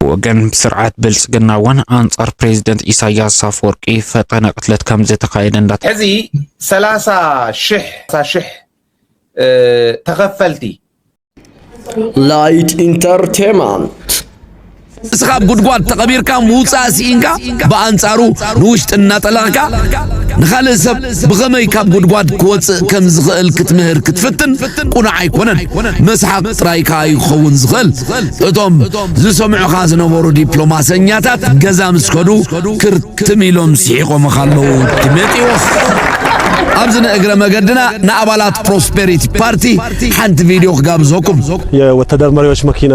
ብወገን ስርዓት ብልፅግና እውን ኣንፃር ፕሬዚደንት ኢሳያስ ኣፈወርቂ ፈጠነ ቅትለት ከምዝተኻየደ እንዳ ሕዚ ሰላሳ ሽሕ ሽሕ ተኸፈልቲ ላይት ኢንተርቴንመንት እስኻ ጉድጓድ ተቐቢርካ ምውፃእ ስኢንካ ብኣንጻሩ ንውሽጢ እናጠለቕካ ንኻልእ ሰብ ብኸመይ ካብ ጉድጓድ ክወጽእ ከም ዝኽእል ክትምህር ክትፍትን ቁኑዕ ኣይኮነን። መስሓቕ ጥራይ ከኣ እዩ ክኸውን ዝኽእል። እቶም ዝሰምዑኻ ዝነበሩ ዲፕሎማሰኛታት ገዛ ምስ ከዱ ክርትም ኢሎም ስሒቖምኻ ኣለዉ ዲሜጥዎስ። ኣብዚ ንእግረ መገድና ንኣባላት ፕሮስፔሪቲ ፓርቲ ሓንቲ ቪድዮ ክጋብዘኩም። የወተደር መሪዎች መኪና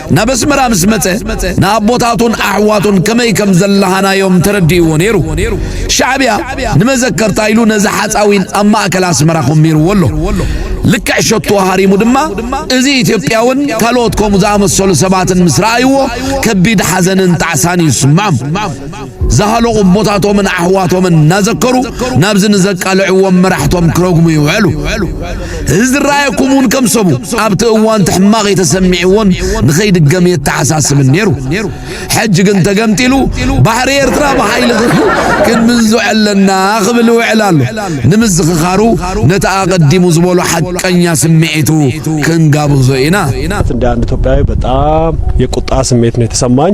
ናብ ኣስመራ ምስ መጸ ንኣቦታቱን ኣሕዋቱን ከመይ ከም ዘለሃናዮም ተረዲእዎ ነይሩ። ሻዕብያ ንመዘከርታ ኢሉ ነዚ ሓጻዊን ኣብ ማእከል ኣስመራ ኮሚርዎ ኣሎ። ልክዕ ሸቶ ሃሪሙ ድማ እዚ ኢትዮጵያውን ካልኦት ከምኡ ዝኣመሰሉ ሰባትን ምስ ረኣይዎ ከቢድ ሓዘንን ጣዕሳን እዩ ዝስምዖም። ዝሃለቑ እቦታቶምን ኣሕዋቶምን እናዘከሩ ናብዚ ንዘቃልዕዎም መራሕቶም ክረግሙ ይውዕሉ። እዚ ዝረኣየኩም እውን ከም ሰቡ ኣብቲ እዋን ትሕማቕ ተሰሚዕዎን ንኸይድገም የተሓሳስብን ነይሩ። ሕጂ ግን ተገምጢሉ ባሕሪ ኤርትራ ብሓይሊ ክንምንዙ ኣለና ክብል ይውዕል ኣሎ። ንምዝኽኻሩ ነቲ ኣቐዲሙ ዝበሎ ሓቀኛ ስምዒቱ ክንጋብዞ ኢና። እንደ አንድ ኢትዮጵያዊ በጣም የቁጣ ስሜት ነው የተሰማኝ።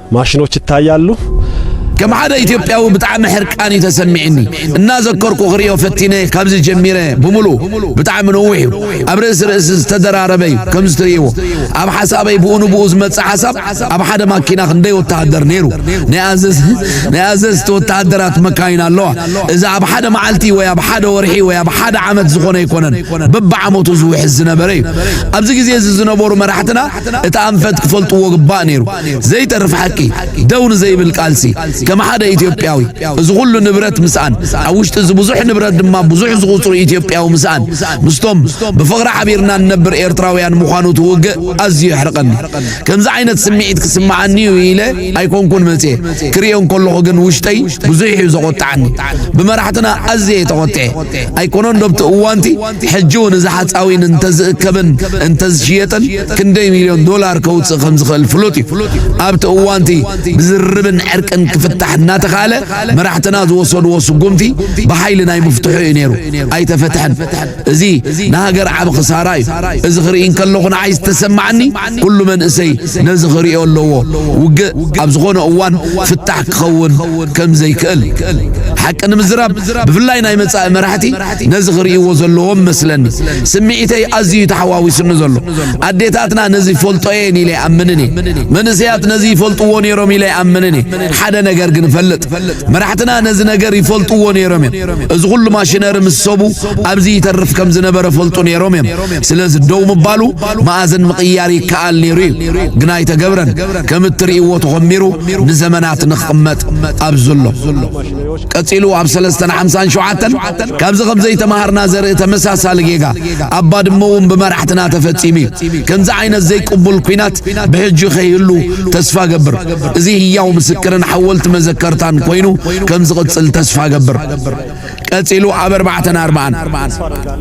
ማሽኖች ይታያሉ። ከም ሓደ ኢትዮጵያዊ ብጣዕሚ ሕርቃን እዩ ተሰሚዕኒ እናዘከርኩ ክሪኦ ፈቲነ ካብዚ ጀሚረ ብምሉ ብጣዕሚ ነዊሕ እዩ ኣብ ርእሲ ርእሲ ዝተደራረበ እዩ ከምዚ ትርእይዎ ኣብ ሓሳበይ ብኡ ንብኡ ዝመፅእ ሓሳብ ኣብ ሓደ ማኪና ክንደይ ወተሃደር ነይሩ ናይ ኣዘዝቲ ወተሃደራት መካይን ኣለዋ እዚ ኣብ ሓደ መዓልቲ ወይ ኣብ ሓደ ወርሒ ወይ ኣብ ሓደ ዓመት ዝኾነ ኣይኮነን በብዓመቱ ዝውሕዝ ዝነበረ እዩ ኣብዚ ግዜ እዚ ዝነበሩ መራሕትና እቲ ኣንፈት ክፈልጥዎ ግባእ ነይሩ። ዘይተርፍ ሓቂ፣ ደው ንዘይብል ቃልሲ፣ ከም ሓደ ኢትዮጵያዊ እዚ ኩሉ ንብረት ምስኣን፣ ኣብ ውሽጢ እዚ ብዙሕ ንብረት ድማ ብዙሕ ዝቑጽሩ ኢትዮጵያዊ ምስኣን፣ ምስቶም ብፍቕሪ ሓቢርና ንነብር ኤርትራውያን ምዃኑ እቲ ውግእ ኣዝዩ የሕርቐኒ። ከምዚ ዓይነት ስምዒት ክስምዓኒ እዩ ኢለ ኣይኮንኩን መጺኤ፣ ክርእዮ እንከለኹ ግን ውሽጠይ ብዙሕ እዩ ዘቖጥዓኒ። ብመራሕትና ኣዝየ እየ ተቖጢዐ። ኣይኮነንዶ ኣብቲ እዋንቲ ሕጂ እውን እዚ ሓፃዊን እንተዝእከብን እንተዝሽየጥን ክንደይ ሚልዮን ዶላር ከውፅእ ከምዝኽእል ፍሉጥ እዩ። ኣብቲ እዋንቲ ብዝርርብን ዕርቅን ክፍታሕ እናተኻእለ መራሕትና ዝወሰድዎ ስጉምቲ ብሓይሊ ናይ ምፍትሑ እዩ ነይሩ። ኣይተፈትሐን። እዚ ንሃገር ዓቢ ክሳራ እዩ። እዚ ክርኢ እንከለኹ ንዓይ ዝተሰማዓኒ ኩሉ መንእሰይ ነዚ ክሪኦ ኣለዎ። ውግእ ኣብ ዝኾነ እዋን ፍታሕ ክኸውን ከምዘይክእል። ሓቂ ንምዝራብ ብፍላይ ናይ መጻኢ መራሕቲ ነዚ ክርእይዎ ዘለዎም መስለኒ ስምዒተይ ኣዝዩ ተሓዋዊሱኒ ዘሎ ኣዴታትና ነዚ ይፈልጦ እየን ኢለ ይኣምንን እየ መንእሰያት ነዚ ይፈልጥዎ ነይሮም ኢለ ይኣምንን እየ ሓደ ነገር ግን እፈልጥ መራሕትና ነዚ ነገር ይፈልጥዎ ነይሮም እዮም እዚ ኩሉ ማሽነሪ ምስ ሰቡ ኣብዚ ይተርፍ ከም ዝነበረ ፈልጡ ነይሮም እዮም ስለዚ ደው ምባሉ መኣዝን ምቕያር ይከኣል ነይሩ እዩ ግን ኣይተገብረን ከም እትርእይዎ ተኾሚሩ ንዘመናት ንክቕመጥ ኣብ ዘሎ ቀጺሉ ኣብ ሰለስተን ሓምሳን ሸውዓተን ካብዚ ከም ዘይተማሃርና ዘርኢ ተመሳሳሊ ጌጋ ኣብ ባድመ እውን ብመራሕትና ተፈጺሙ እዩ። ከምዚ ዓይነት ዘይቅቡል ኲናት ብሕጂ ከይህሉ ተስፋ እገብር። እዚ ህያው ምስክርን ሓወልቲ መዘከርታን ኮይኑ ከም ዝቕጽል ተስፋ እገብር። ቀጺሉ ኣብ ኣርባዕተን ኣርባዓን።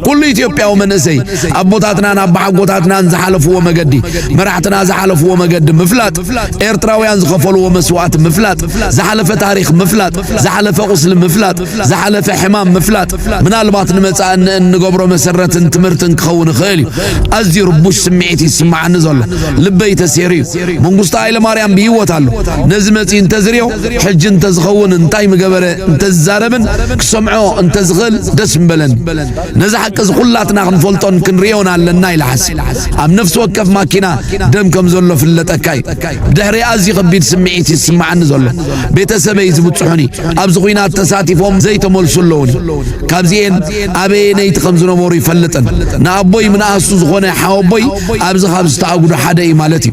ኩሉ ኢትዮጵያዊ መንእሰይ ኣቦታትናን ኣባሓጎታትናን ዝሓለፍዎ መገዲ፣ መራሕትና ዝሓለፍዎ መገዲ ምፍላጥ፣ ኤርትራውያን ዝኸፈልዎ መስዋእቲ ምፍላጥ፣ ዝሓለፈ ታሪኽ ምፍላጥ፣ ዝሓለፈ ቁስሊ ምፍላጥ፣ ዝሓለፈ ሕማም ምፍላጥ ምናልባት ንመጻኢ እንገብሮ መሰረትን ትምህርትን ክኸውን ይኽእል እዩ። ኣዝዩ ርቡሽ ስምዒት እዩ ዝስምዓኒ ዘሎ። ልበይ ተሴሩ እዩ። መንግስቱ ሃይለማርያም ብሂወት ኣሎ። ነዚ መጺኡ እንተዝሪኦ ሕጂ እንተዝኸውን እንታይ ምገበረ እንተዝዛረብን ክሰምዖ እንተዝኽእል ደስ ምበለኒ። ነዚ ሓቂ እዚ ኩላትና ክንፈልጦን ክንርእዮን ኣለና ኢለ ሓሲብ። ኣብ ነፍሲ ወከፍ ማኪና ደም ከም ዘሎ ፍለጠካ እዩ። ብድሕሪ ኣዝዩ ከቢድ ስምዒት እዩ ዝስምዓኒ ዘሎ። ቤተሰበይ ዝብጽሑኒ፣ ኣብዚ ኲናት ተሳቲፎም ዘይተመልሱ ኣለዉኒ። ካብዚኤን ኣበየነይቲ ከም ዝነበሩ ይፈልጥን። ንኣቦይ ምንኣስቱ ዝኾነ ሓወቦይ ኣብዚ ካብ ዝተኣጉዱ ሓደ እዩ ማለት እዩ።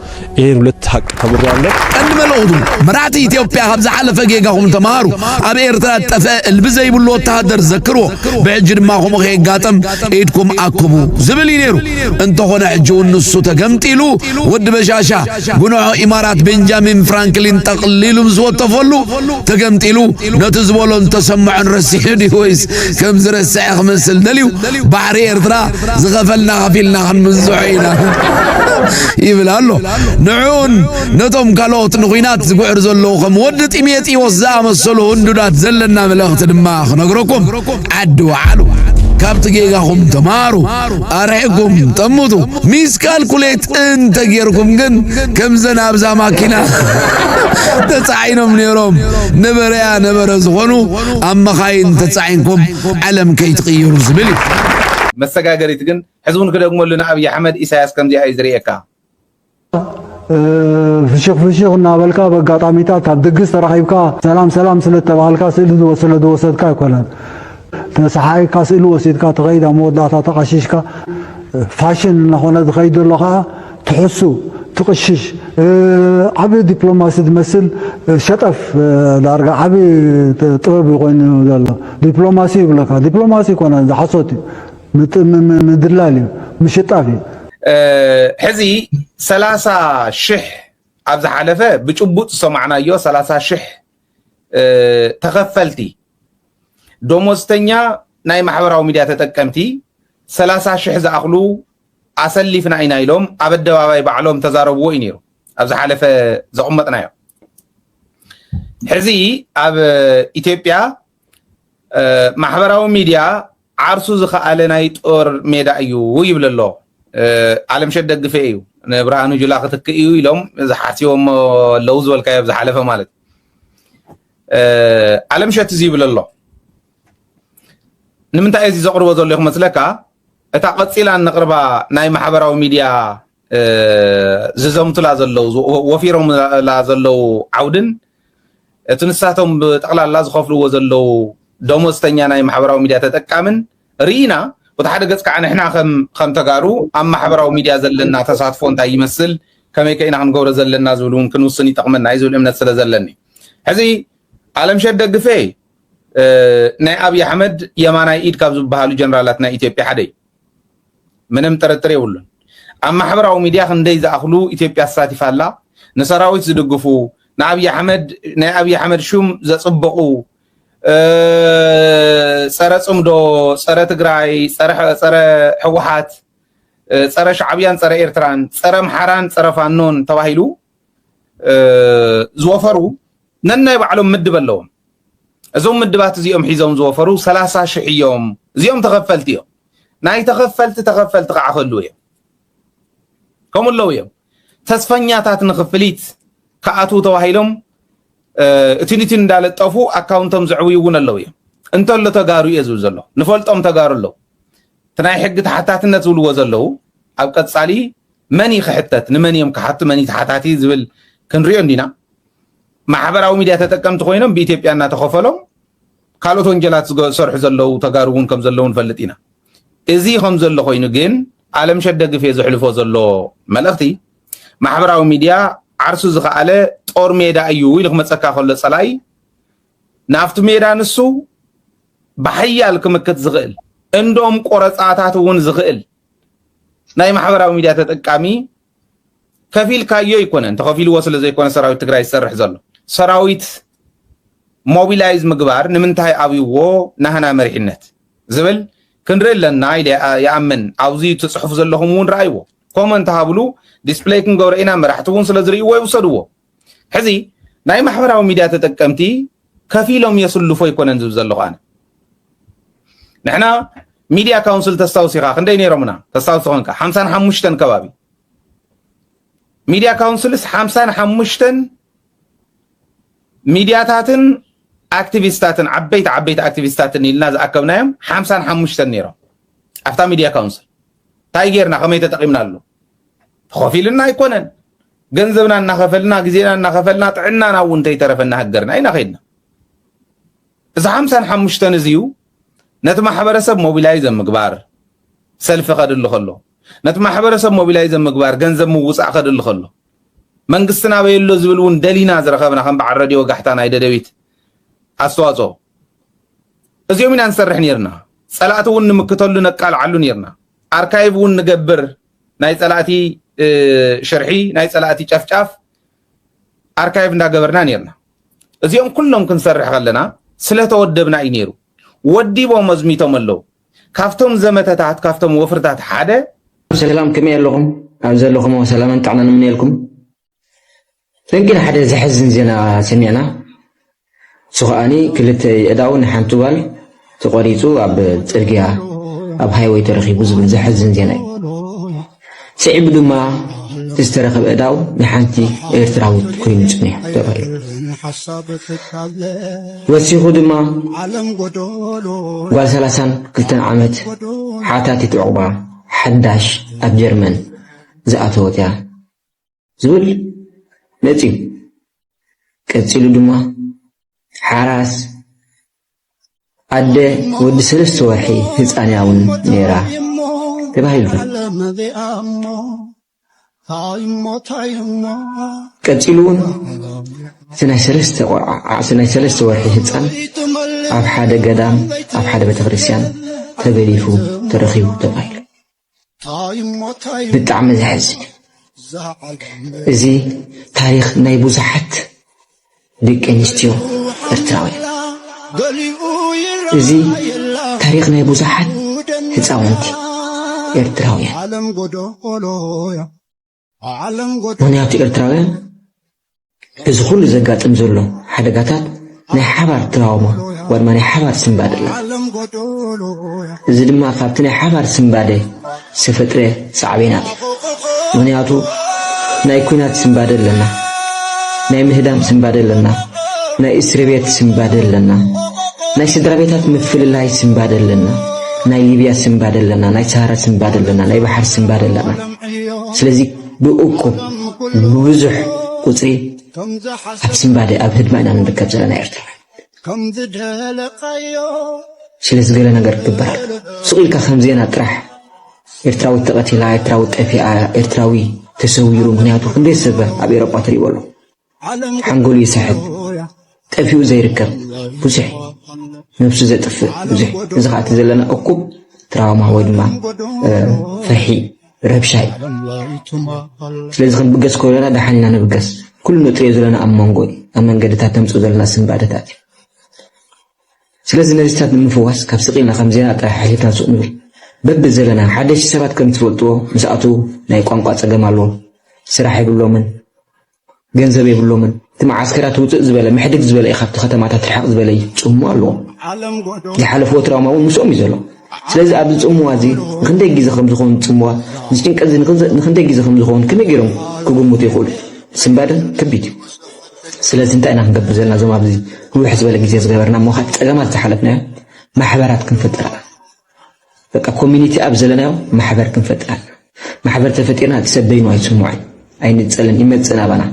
ይህን ሁለት ሀቅ ተምሬያለሁ። ቀንዲ መልእኹቱ መራሕቲ ኢትዮጵያ ካብ ዝሓለፈ ጌጋኹም ተምሃሩ፣ ኣብ ኤርትራ ጠፈ እልቢ ዘይብሉ ወተሃደር ዘክርዎ፣ ብሕጂ ድማ ከምኡ ከየጋጠም ኢድኩም ኣክቡ ዝብል እዩ ነይሩ። እንተኾነ ሕጂ እውን ንሱ ተገምጢሉ ወዲ በሻሻ ጉንዖ ኢማራት ቤንጃሚን ፍራንክሊን ጠቕሊሉ ምስ ወተፈሉ ተገምጢሉ ነቲ ዝበሎን ተሰምዖን ረሲዑ ድዩ ወይስ ከም ዝረስዐ ክመስል ደልዩ ባሕሪ ኤርትራ ዝኸፈልና ከፊልና ክንብዝሖ ኢና ይብል ኣሎ ንዕኡን ነቶም ካልኦት ንኹናት ዝጉዕር ዘለዉ ከም ወዲ ጢሜጢዎስ ዝኣመሰሉ ህንዱዳት ዘለና መልእኽቲ ድማ ክነግረኩም ዓዲ ወዓሉ ካብቲ ጌጋኹም ተማሃሩ ኣርሕኩም ጠምቱ ሚስ ካልኩሌት እንተ ጌርኩም ግን ከምዘን ኣብዛ ማኪና ተጻዒኖም ነይሮም ነበረያ ነበረ ዝኾኑ ኣብ መኻይን ተጻዒንኩም ዓለም ከይትቕይሩ ዝብል እዩ። መሰጋገሪት ግን ሕዚ ውን ክደግመሉ ንኣብይ ኣሕመድ ኢሳያስ ከምዚኣ እዩ ዝርእየካ። ፍሽኽ ፍሽኽ እናበልካ በጋጣሚታት ኣብ ድግስ ተራኺብካ ሰላም ሰላም ስለ እተባሃልካ ስእሊ ዝወሰለ ዝወሰድካ ኣይኮነን ተሰሓኢካ ስእሊ ወሲድካ ትኸይድ ኣብ መወዳእታ ተቓሺሽካ ፋሽን እናኾነ ዝኸይድ ዘሎ ከዓ ትሕሱ ትቕሽሽ ዓቢ ዲፕሎማሲ ዝመስል ሸጠፍ ዳርጋ ዓቢ ጥበብ እዩ ኮይኑ ዘሎ ዲፕሎማሲ ይብለካ ዲፕሎማሲ ይኮነ ሓሶት እዩ ምድላል እዩ ምሽጣፍ እዩ ሕዚ ሰላሳ ሽሕ ኣብ ዝሓለፈ ብጭቡጥ ዝሰማዕናዮ ሰላሳ ሽሕ ተኸፈልቲ ደሞዝተኛ ናይ ማሕበራዊ ሚድያ ተጠቀምቲ ሰላሳ ሽሕ ዝኣኽሉ ኣሰሊፍና ኢና ኢሎም ኣብ ኣደባባይ ባዕሎም ተዛረብዎ እዩ ነይሩ ኣብ ዝሓለፈ ዘቕመጥናዮ ሕዚ ኣብ ኢትዮጵያ ማሕበራዊ ሚድያ ዓርሱ ዝኸኣለ ናይ ጦር ሜዳ እዩ ይብል ኣሎ ኣለምሸት ደግፌ እዩ ንብርሃኑ ጁላ ክትክእ እዩ ኢሎም ዝሓስቦሞ ኣለዉ ዝበልካዮ ኣብ ዝሓለፈ ማለት ኣለምሸት እዚ ይብል ኣሎ ንምንታይ እዚ ዘቕርቦ ዘሎ ይመስለካ እታ ቀጺላ እነቕርባ ናይ ማሕበራዊ ሚድያ ዝዘምቱላ ዘለዉ ወፊሮምላ ዘለዉ ዓውድን እቲ ንሳቶም ብጠቕላላ ዝኸፍልዎ ዘለዉ ደሞዝተኛ ናይ ማሕበራዊ ሚድያ ተጠቃምን ርኢና እቲ ሓደ ገጽ ከዓ ንሕና ከም ተጋሩ ኣብ ማሕበራዊ ሚድያ ዘለና ተሳትፎ እንታይ ይመስል ከመይ ከኢና ክንገብሮ ዘለና ዝብል እውን ክንውስን ይጠቕመና እዩ ዝብል እምነት ስለ ዘለኒ ሕዚ ኣለምሸት ደግፌ ናይ ኣብይ ኣሕመድ የማናይ ኢድ ካብ ዝበሃሉ ጀነራላት ናይ ኢትዮጵያ ሓደ እዩ። ምንም ጥርጥር የብሉን። ኣብ ማሕበራዊ ሚድያ ክንደይ ዝኣኽሉ ኢትዮጵያ ተሳቲፋ ኣላ ንሰራዊት ዝድግፉ ንኣብይ ኣሕመድ ናይ ኣብይ ኣሕመድ ሹም ዘፅበቑ ፀረ ፅምዶ፣ ፀረ ትግራይ፣ ፀረ ሕወሓት፣ ፀረ ሻዕብያን ፀረ ኤርትራን፣ ፀረ ኣምሓራን ፀረ ፋኖን ተባሂሉ ዝወፈሩ ነናይ ባዕሎም ምድብ ኣለዎም። እዞም ምድባት እዚኦም ሒዞም ዝወፈሩ ሰላሳ ሽሕ እዮም። እዚኦም ተኸፈልቲ እዮም። ናይ ተኸፈልቲ ተኸፈልቲ ከዓ ክህልው እዮም። ከምኡ ኣለዉ እዮም። ተስፈኛታት ንክፍሊት ክኣትዉ ተባሂሎም እትን እትን እንዳለጠፉ ኣካውንቶም ዘዕብዩ እውን ኣለዉ እዮም። እንተሎ ተጋሩ እየ ዝብል ዘሎ ንፈልጦም ተጋሩ ኣለዉ። እቲ ናይ ሕጊ ተሓታትነት ዝብልዎ ዘለዉ ኣብ ቀፃሊ መን እዩ ክሕተት ንመን እዮም ክሓቱ መን እዩ ተሓታቲ ዝብል ክንሪኦ እንዲና ማሕበራዊ ሚድያ ተጠቀምቲ ኮይኖም ብኢትዮጵያ እናተኸፈሎም ካልኦት ወንጀላት ዝሰርሑ ዘለው ተጋሩ እውን ከም ዘለው ንፈልጥ ኢና። እዚ ከም ዘሎ ኮይኑ ግን ኣለምሸት ደግፌ ዘሕልፎ ዘሎ መልእኽቲ ማሕበራዊ ሚድያ ዓርሱ ዝኸኣለ ጦር ሜዳ እዩ ኢሉ ክመፀካ ከሎ ፀላኢ ናብቲ ሜዳ ንሱ ብሓያል ክምክት ዝኽእል እንዶም ቆረፃታት እውን ዝኽእል ናይ ማሕበራዊ ሚድያ ተጠቃሚ ከፊልካዮ ኣይኮነን ተኸፊልዎ ስለ ዘይኮነ ሰራዊት ትግራይ ዝሰርሕ ዘሎ ሰራዊት ሞቢላይዝ ምግባር ንምንታይ ኣብይዎ ናህና መሪሕነት ዝብል ክንርኢ ኣለና ኢለ ይኣምን ኣብዚ ትፅሑፍ ዘለኹም እውን ረኣይዎ ኮመንት ሃብሉ ዲስፕሌይ ክንገብሮ ኢና መራሕቲ እውን ስለ ዝርእይዎ ይውሰድዎ ሕዚ ናይ ማሕበራዊ ሚድያ ተጠቀምቲ ከፊሎም የስልፎ ኣይኮነን ዝብ ዘለኹ ኣነ ንሕና ሚድያ ካውንስል ተስታውስ ኢኻ ክንደይ ነይሮምና ተስታውስ ኮንካ ሓምሳን ሓሙሽተን ከባቢ ሚድያ ካውንስልስ ሓምሳን ሓሙሽተን ሚድያታትን ኣክቲቪስታትን ዓበይቲ ዓበይቲ ኣክቲቪስታትን ኢልና ዝኣከብናዮም ሓምሳን ሓሙሽተን ነይሮም ኣብታ ሚድያ ካውንስል እንታይ ጌርና ከመይ ተጠቂምናሉ ተኸፊልና ኣይኮነን ገንዘብና እናኸፈልና ግዜና እናኸፈልና ጥዕናና እውን እንተይተረፈና ሃገርና ኢና ከይድና እዚ ሓምሳን ሓሙሽተን እዚዩ ነቲ ማሕበረሰብ ሞቢላይዘ ምግባር ሰልፊ ከድሊ ከሎ ነቲ ማሕበረሰብ ሞቢላይዘ ምግባር ገንዘብ ምውፃእ ከድሊ ከሎ መንግስትና በየሎ ዝብል እውን ደሊና ዝረኸብና ከም በዓል ረድዮ ጋሕታ ናይ ደደቢት ኣስተዋፅኦ እዚኦም ኢና ንሰርሕ ነርና ፀላእቲ እውን ንምክተሉ ነቃልዓሉ ነርና ኣርካይቭ እውን ንገብር ናይ ፀላእቲ ሽርሒ ናይ ፀላእቲ ጨፍጫፍ ኣርካይቭ እንዳገበርና ነርና እዚኦም ኩሎም ክንሰርሕ ከለና ስለተወደብና እዩ ነይሩ ወዲቦም ኣዝሚቶም ኣለዉ ካብቶም ዘመተታት ካብቶም ወፍርታት ሓደ ሰላም ከመይ ኣለኹም ኣብ ዘለኹም ሰላምን ጥዕናን እምነየልኩም ሰንኪ ንሓደ ዘሕዝን ዜና ሰሚዕና እሱ ከኣኒ ክልተ የእዳው ንሓንቲ ጓል ተቆሪጹ ኣብ ጽርግያ ኣብ ሃይወይ ተረኺቡ ዝብል ዘሕዝን ዜና እዩ። ስዒቡ ድማ እቲ ዝተረኸበ እዳው ንሓንቲ ኤርትራዊት ኮይኑ ጽኒሑ ተባሂሉ። ወሲኹ ድማ ጓል ሰላሳን ክልተን ዓመት ሓታቲት ዕቑባ ሓዳሽ ኣብ ጀርመን ዝኣተወት እያ ዝብል መጺኡ። ቀጺሉ ድማ ሓራስ ኣደ ወዲ ሰለስተ ወርሒ ህፃን እያ እውን ነይራ ተባሂሉ። ቀጺሉ እውን እቲ ናይ ሰለስተ ቆልዓ ዓዕሲ ናይ ሰለስተ ወርሒ ህፃን ኣብ ሓደ ገዳም ኣብ ሓደ ቤተክርስትያን ተገሊፉ ተረኺቡ ተባሂሉ ብጣዕሚ ዘሕዝን እዩ እዚ ታሪኽ ናይ ብዙሓት ደቂ ኣንስትዮ ኤርትራውያን እዚ ታሪኽ ናይ ብዙሓት ህፃውንቲ ኤርትራውያን ምኽንያቱ ኤርትራውያን እዚ ኩሉ ዘጋጥም ዘሎ ሓደጋታት ናይ ሓባር ትራውማ ወይ ድማ ናይ ሓባር ስንባደ ኣሎ። እዚ ድማ ካብቲ ናይ ሓባር ስንባደ ዝተፈጥረ ሳዕቤናት እዩ። ምኽንያቱ ናይ ኩናት ስንባደ ኣለና፣ ናይ ምህዳም ስንባደ ኣለና፣ ናይ እስሪ ቤት ስንባደ ኣለና፣ ናይ ስድራ ቤታት ምፍልላይ ስንባደ ኣለና፣ ናይ ሊብያ ስንባደ ኣለና፣ ናይ ሰሃራ ስንባደ ኣለና፣ ናይ ባሕሪ ስንባደ ኣለና። ስለዚ ብእኩብ ብብዙሕ ቁፅሪ ኣብ ስንባደ ኣብ ህድማ ኢና ንርከብ ዘለና ኤርትራውያን ስለዚ ገለ ነገር ክግበር ኣሎ ስቕ ኢልካ ከም ዜና ጥራሕ ኤርትራዊት ተቐቲላ ኤርትራዊት ጠፊኣ ኤርትራዊ ተሰዊሩ ምክንያቱ ክንደይ ሰብ ኣብ ኤሮጳ ትሪእዎ ኣሎ ሓንጎሉ ይስሕት ጠፊኡ ዘይርከብ ብዙሕ ነብሱ ዘጥፍእ ብዙሕ እዚ ከዓ እቲ ዘለና እኩብ ትራውማ ወይ ድማ ፍርሒ ረብሻ እዩ ስለዚ ክንብገስ ከለና ደሓን ኢና ንብገስ ኩሉ ንጥሪዮ ዘለና ኣብ መንጎ እዩ ኣብ መንገድታት ተምፅኡ ዘለና ስንባደታት እዩ ስለዚ ነዚታት ንምፍዋስ ካብ ስቂልና ከም ዜና ጥራሕ ሓሊፍና ሱቅ ንብል በቢ ዘለና ሓደሽቲ ሰባት ከም ትፈልጥዎ ምስኣቱ ናይ ቋንቋ ፀገም ኣለዎም ስራሕ የብሎምን ገንዘብ የብሎምን እቲ መዓስከራት ውፅእ ዝበለ ምሕድግ ዝበለ እዩ ካብቲ ከተማታት ርሕቕ ዝበለ እዩ ፅምዋ ኣለዎም ዝሓለፍዎ ትራውማ እውን ምስኦም እዩ ዘሎ ስለዚ ኣብዚ ፅምዋ እዚ ንክንደይ ግዜ ከም ዝኸውን ፅምዋ እዚ ጭንቀት እዚ ንክንደይ ግዜ ከም ዝኸውን ከመይ ገይሮም ክግምቱ ይኽእሉ ስምባደ ከቢድ እዩ ስለዚ እንታይ ኢና ክንገብር ዘለና እዞም ኣብዚ ንውሕ ዝበለ ግዜ ዝገበርና እሞ ካብ ፀገማት ዝሓለፍናዮ ማሕበራት ክንፍጥር በቃ ኮሚኒቲ ኣብ ዘለናዮ ማሕበር ክንፈጥር ኣለና። ማሕበር ተፈጢርና እቲ ሰብ በይኑ ኣይስምዖን፣ ኣይንጸልን፣ ይመጽእ ናባና።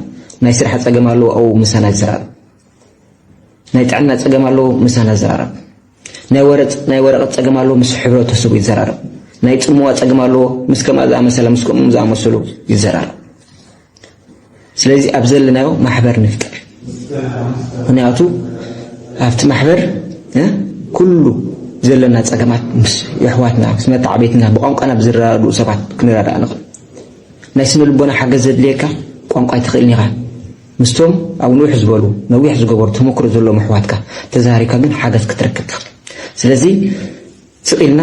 ናይ ስራሕ ጸገም ኣለዎ ኣው ምሳና ይዘራረብ። ናይ ጥዕና ጸገም ኣለዎ ምሳና ይዘራረብ። ናይ ወረጽ ናይ ወረቐት ጸገም ኣለዎ ምስ ሕብረተሰቡ ይዘራረብ። ናይ ጽምዋ ጸገም ኣለዎ ምስ ከምኣ ዝኣመሰለ ምስ ከምኦም ዝኣመሰሉ ይዘራረብ። ስለዚ ኣብ ዘለናዮ ማሕበር ንፍጠር ምክንያቱ ኣብቲ ማሕበር ኩሉ ዘለና ጸገማት ምስ የሕዋትና ምስ መተዓበይትና ብቋንቋና ብዝረዳድኡ ሰባት ክንረዳእ ንኽእል ናይ ስነ ልቦና ሓገዝ ዘድልየካ ቋንቋ ኣይትኽእልን ኢኻ ምስቶም ኣብ ንውሕ ዝበሉ ነዊሕ ዝገበሩ ተመክሮ ዘለዎም ኣሕዋትካ ተዛሪብካ ግን ሓገዝ ክትረክብ ትኽእል ስለዚ ስቕ ኢልና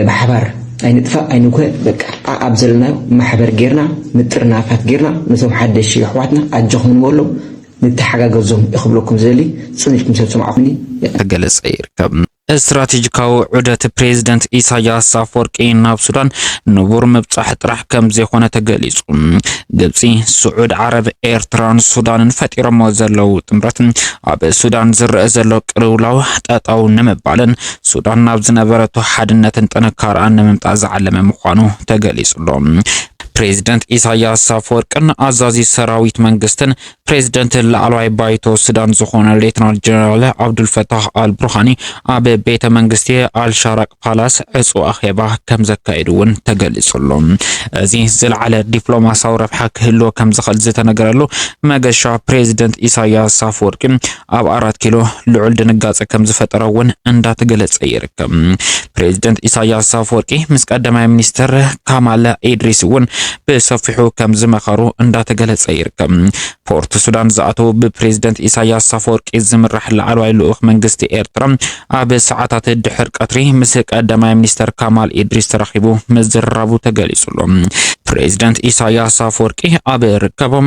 ብሓባር ኣይንጥፋእ ኣይንጉሀ በቃ ኣኣብ ዘለናዮ ማሕበር ጌርና ምጥርናፋት ጌርና ነቶም ሓደሽቲ የሕዋትና ኣጆኹም ንበሎም ንተሓጋገዞም እየ ክብለኩም ዝደሊ ጽን ኢልኩም ስለ ትሰማዕኩምኒ ክገልጽ ይርከብ። ስትራቴጂካዊ ዑደት ፕሬዚደንት ኢሳያስ ኣፈወርቂ ናብ ሱዳን ንቡር ምብጻሕ ጥራሕ ከም ዘይኮነ ተገሊጹ። ግብጺ፣ ስዑድ ዓረብ፣ ኤርትራን ሱዳንን ፈጢሮሞ ዘለዉ ጥምረት ኣብ ሱዳን ዝረኣ ዘሎ ቅልውላው ጠጠው ንምባልን ሱዳን ናብ ዝነበረቶ ሓድነትን ጥንካረኣን ንምምፃእ ዝዓለመ ምዃኑ ተገሊጹሎ። ፕሬዚደንት ኢሳያስ ኣፈወርቅን ኣዛዚ ሰራዊት መንግስትን ፕሬዚደንት ላዕለዋይ ባይቶ ሱዳን ዝኾነ ሌትናል ጀነራል ዓብዱልፈታህ ኣልቡርሃኒ ኣብ ቤተ መንግስቲ ኣልሻራቅ ፓላስ ዕፁ ኣኼባ ከም ዘካየዱ እውን ተገሊጹሎ። እዚ ዝለዓለ ዲፕሎማሲያዊ ረብሓ ክህልዎ ከም ዝኽእል ዝተነገረሉ መገሻ ፕሬዚደንት ኢሳያስ ኣፈወርቂ ኣብ ኣራት ኪሎ ልዑል ድንጋጸ ከም ዝፈጠረ እውን እንዳተገለጸ ይርከብ። ፕሬዚደንት ኢሳያስ ኣፈወርቂ ምስ ቀዳማይ ሚኒስትር ካማለ ኢድሪስ እውን ብሰፊሑ ከም ዝመኸሩ እንዳተገለጸ ይርከብ። ፖርት ሱዳን ዝኣተው ብፕሬዝደንት ኢሳያስ ሳፈወርቂ ዝምራሕ ላዕለዋይ ልኡኽ መንግስቲ ኤርትራ ኣብ ሰዓታት ድሕር ቀትሪ ምስ ቀዳማይ ሚኒስተር ካማል ኢድሪስ ተራኺቡ ምዝርራቡ ተገሊጹ ኣሎ። ፕሬዝደንት ኢሳያስ ኣፈወርቂ ኣብ ርከቦም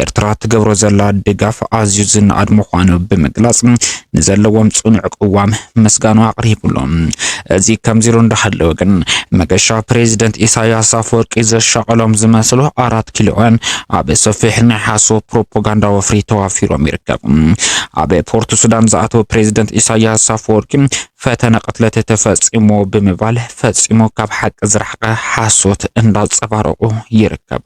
ኤርትራ ትገብሮ ዘላ ድጋፍ ኣዝዩ ዝነኣድ ምዃኑ ብምግላጽ ንዘለዎም ጽኑዕ ቅዋም ምስጋኑ ኣቕሪቡሉ። እዚ ከምዚሉ እንዳሃለወ ግን መገሻ ፕሬዚደንት ኢሳያስ ኣፈወርቂ ዘሻቐሎም ዝመስሉ ኣራት ኪሎውያን ኣብ ሰፊሕ ናይ ሓሶ ፕሮፓጋንዳ ወፍሪ ተዋፊሮም ይርከቡ። ኣብ ፖርት ሱዳን ዝኣተወ ፕሬዚደንት ኢሳያስ ኣፈወርቂ ፈተነ ቅትለት ተፈፂሙ ብምባል ፈፂሙ ካብ ሓቂ ዝረሓቐ ሓሶት እንዳፀባረቑ ይርከቡ።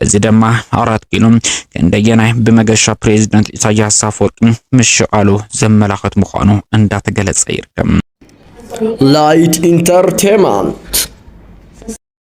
እዚ ድማ ኣራት ኪሎ ክንደየናይ ብመገሻ ፕሬዚደንት ኢሳያስ ኣፈወርቂ ምሽቓሉ ዘመላኽት ምዃኑ እንዳተገለፀ ይርከብ። ላይት ኢንተርቴንመንት